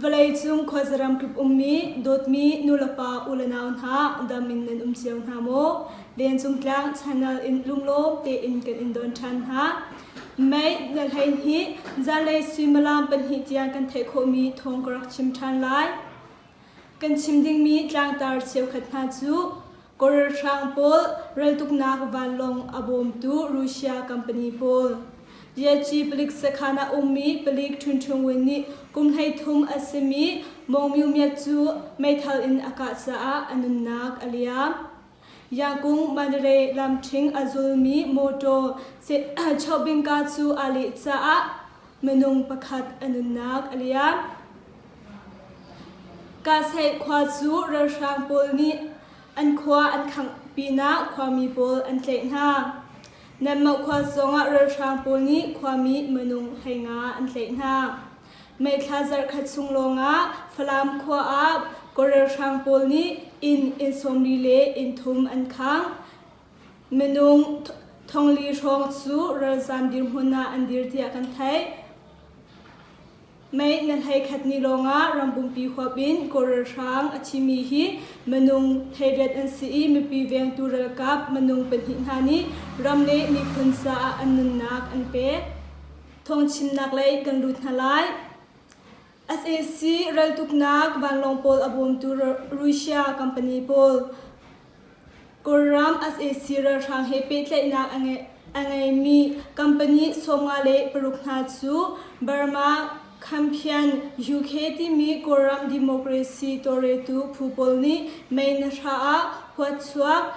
Vawleicung khuazaram tluk ummi dawtmi nulepa ulenau hna dam in nan um cio hna maw? Lencung tlang channel in lunglawm tein kan in don ṭhan hna. Mei na hlei hi zanlei suimilam pahnih tiang kan theih khawhmi thawng ka rak chim ṭhan lai. Kan chim dingmi tlangtar cheukhat hna cu Koralhrang pawl raltuknak vanlawng a bawmtu Russia company pawl, Ryatchi palik sakhan ah ummi palik Ṭhunṭhung Win nih kum hleithum a simi Mawngmyumyat cu meithal in a kah caah a nunnak a liam. Yakung Manre lamthing a zulmi mawṭaw chawhbingka cu aa leh caah minung pakhat a nunnak a liam. Kasei khua cu ralhrang pawl nih an khua an khangh pinah khuami pawl an tlaih hna. Nanmah khua zongah ralhrang pawl nih khuami minung heinga an tlaih hna. Meithla zarhkhat chung lawngah Falam khua ah Korelhrang pawl nih inn inn sawmli le inn thum an khang. Minung thongli hrawng cu ralzam dirhmun ah an dir tiah kan theih. Mei na hlei khat ni lawngah rambumpi huap in Korelhrang a thimi hi minung theiret an si i mipi vengtu ralkap minung pahnih hna nih ram le miphun caah an nunnak an pek. Thawngchimnak lei kan lut hna lai. SAC raltuknak vanlawng pawl a bawmtu Russia company pawl Kawlram SAC ralhrang he pehtlaihnak a ngeimi company sawmnga le paruk hna cu Burma, Khamphian, UK timi Kawlram democracy tawlretu phu pawl nih mei na hra ah huatchuak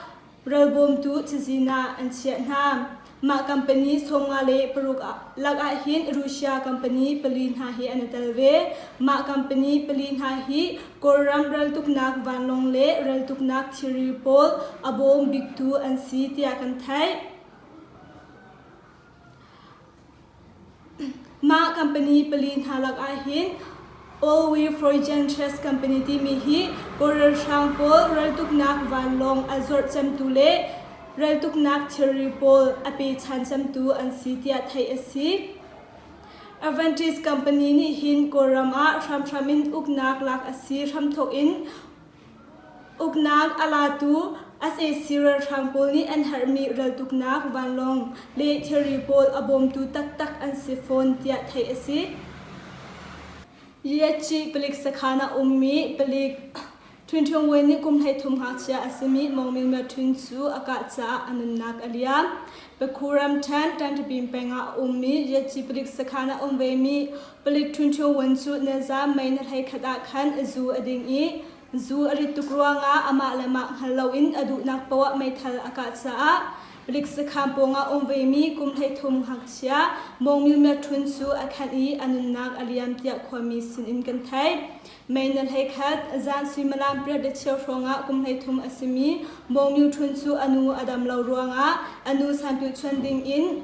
Ralbawmtu cazin ah an chiah hna. Mah company chawma le paruk lakah hin Russia company pali hna hi an i tel ve. Mah company pali hna hi Kawlram raltuknak vanlawng le raltuknak thiri pawl a bawm biktu an si tiah kan theih. Mah company pali hna lakah hin OV Froigentres company timi hi Kawl ralhrang pawl raltuknak vanlawng a zawrh cemtu le raltuknak thilri pawl a pechan cemtu an si tiah theih a si. Avantis company nih hin Kawlram ah hramhram in uknak lak a si hramthawk in Uknak a latu sac ralhrang pawl nih an herhmi raltuknak vanlawng le thilri pawl a bawmtu taktak an si fawn tiah theih a si. Liaci palik sakhan ah ummi palik Htun Htung Win nih kum hleithum ngakchia a simi Mong Min Myo Htun cu a kah caah a nunnak a liam. Bakhu ramṭhen Ṭanṭipim peng ah a ummi Liaci palik sakhan ah um vemi Palik ṭhunṭhioun cu nilzaam mei na hlei khat ah khan a zu a ding i zu a rit tuk ruangah amah le mah hngal loin a duhnak poah meithal a kah caah Riksakhan pawngah um vemi kum hleithum ngakchia Mawng Myu Myat Ṭhun cu a khan i a nunnak a liam tiah khuami sinin kan theih. Mei na hlei khat zan suimilam pariat le cheu hrawngah kum hleithum a simi Mawng Myu Ṭhun cu a nu a dam lo ruangah a nu sanpilchuan dingin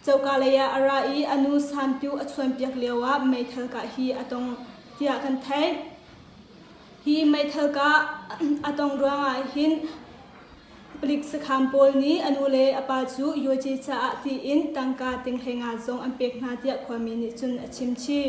Coka leiah a ra i a nu Santu a chuanpiak lioah meithal kah hi a tong tiah kan theih. Hi meithal kah a tong ruangah hin palik sakham pawl nih a nu le a pa cu Yoce caah tiin tangka tinghlei nga zong an pek hna tiah khuami nih cun a chim chih.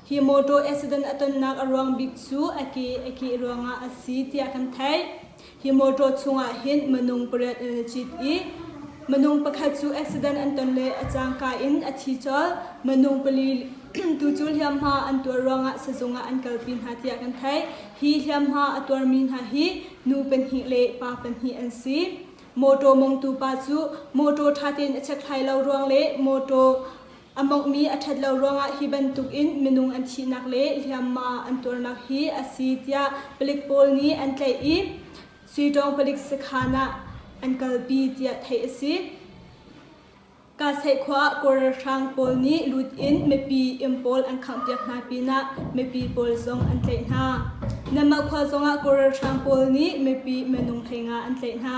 hi motor accident a tonnak a ruang bik cu a ke a keh ruangah a si tiah kan theih. Hi motor chungah hin minung pariat in a cit i minung pakhat cu accident an ton le a cangka in a thi cawl. Minung pali tu cu hliamhma an tuar ruangah sizung ah an kalpi hna tiah kan theih. Hi hliamhma a tuarmi hna hi nu pahnih le pa pahnih an si. Motor mongtu pa cu motor ṭha tein a chekhlai lo ruang le motor A monghmi a ṭhat lo ruangah hi bantukin minung an thihnak le hliamma an tuarnak hi a si tiah palik pawl nih an tlaih i Suitawng palik sakhan ah an kalpi tiah theih a si. Kaseih khua ah Kawl ralhrang pawl nih lut in mipi im pawl an khanghpiak hna pinah mipi pawl zong an tlaih hna. Nanmah khua zongah Kawl ralhrang pawl nih mipi minung hleinga an tlaih hna.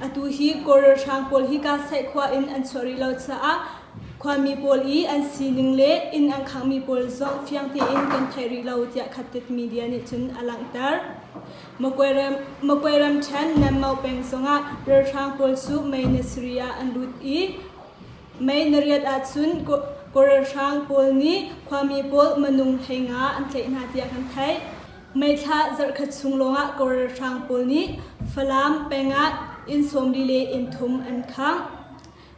Atu hi Kawl ralhrang pawl hi Kasaih khua in an chuah rih lo caah khuami pawl i an sining le inn an khanghmi pawl zong fiang tein kan theih rih lo tiah Khattit Media nih cun a langhter. Makwe, ram, Makwe ramṭhen Nanmao peng zongah ralhrang pawl cu May na sarih ah an lut i May nariat ahcun Kawl ralhrang pawl nih khuami pawl manung hlei nga an tlaih hna tiah kan theih. Meithla zarhkhat chung lawngah kawr ralhrang pawl nih Falam peng ah inn sawmli le inn thum an khangh.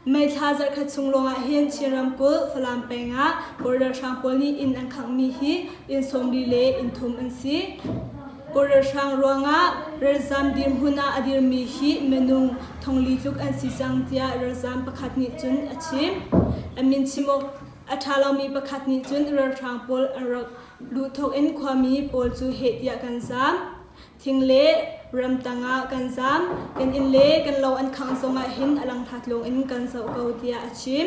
Meithla zarhkhat chung lawngah hin Chin ramkulh Falam peng ah kawr ralhrang pawl nih inn an khanghmi hi inn sawmli le inn thum an si. Kawr ralhrang ruangah ralzam dirhmun ah a dirmi hi minung thongli tluk an si cang tiah ralzam pakhat nih cun a chim. A min chim awk a ṭha lomi pakhat nih cun ralhrang pawl an rak Luh thawkin khuami pawl cu heh tiah kan zaam. Thing le ram tangah kan zaam. Kan inn le kan lo an khangh zongah hin a langtha tlung in kan zoh ko tiah a chim.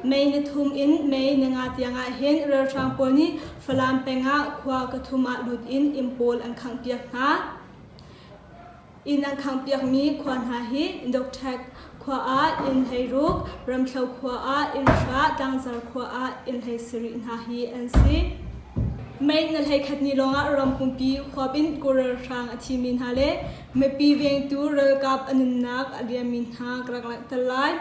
Mei ni thum in May ni nga tiangah hin ralhrang pawl nih Falam pengah khua ka thum ah lut in inn pawl an khangh piak hna. Inn an khanghpiakmi khua hna hi Dohthek khua ah inn hlei ruk, Ramthlo khua ah inn hra, Tlangzar khua ah inn hlei sarih hna hi an si. Mei na hlei khatni lawngah ram pumpi huapin kural hrang a thimi hna le mipi vengtu ralkap a nunnak a liammi hna ka rak langhter lai.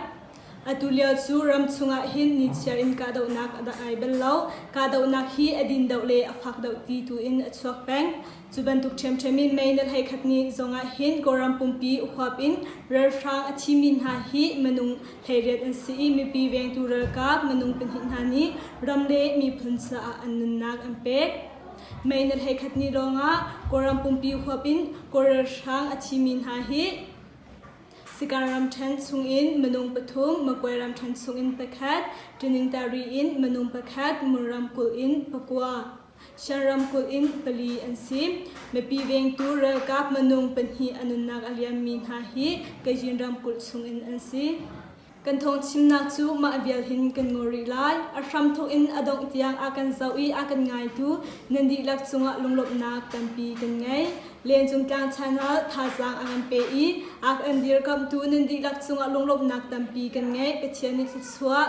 Atu lio cu ram chungah hin nichiar in kahdohnak a rak ai bal lo. Kahdohnak hi a din doh le a fak doh ti tu in a chuak peng. Cu bantuk ṭhiamṭhiam in mei na hlei khat ni zongah hin Kawlram pumpi huap in ralhrang a thimi hna hi minung hleiriat an si i mipi vengtu ralkap minung pahnih hna nih ram le miphun caah an nunnak an pek. Mei na hlei khat ni lawngah Kawlram pumpi huap in Kawl ralhrang a thimi hna hi Sikan ramṭhen chungin minung pathum, Magway ramṭhen chungin pakhat, Ṭiningtari in minung pakhat, Mul ramkulh in pakua. Shan ramkulh in pali an si. Mipi vengtu ralkap minung pahnih a nunnak a liammi hna hi Kajin ramkulh chungin an si. Kan thawngchimnak cu mah vial hin kan ngaw rih lai. A hram thawk in a dongh tiang a kan zoh i a kan ngaitu nan dihlak cungah lunglawmhnak tampi kan ngei. Lengcung tlang chanal thazaang a kan pe i a kan dirkamhtu nan dihlak cungah lunglawmhnak tampi kan ngei. Pathian nih thluachuah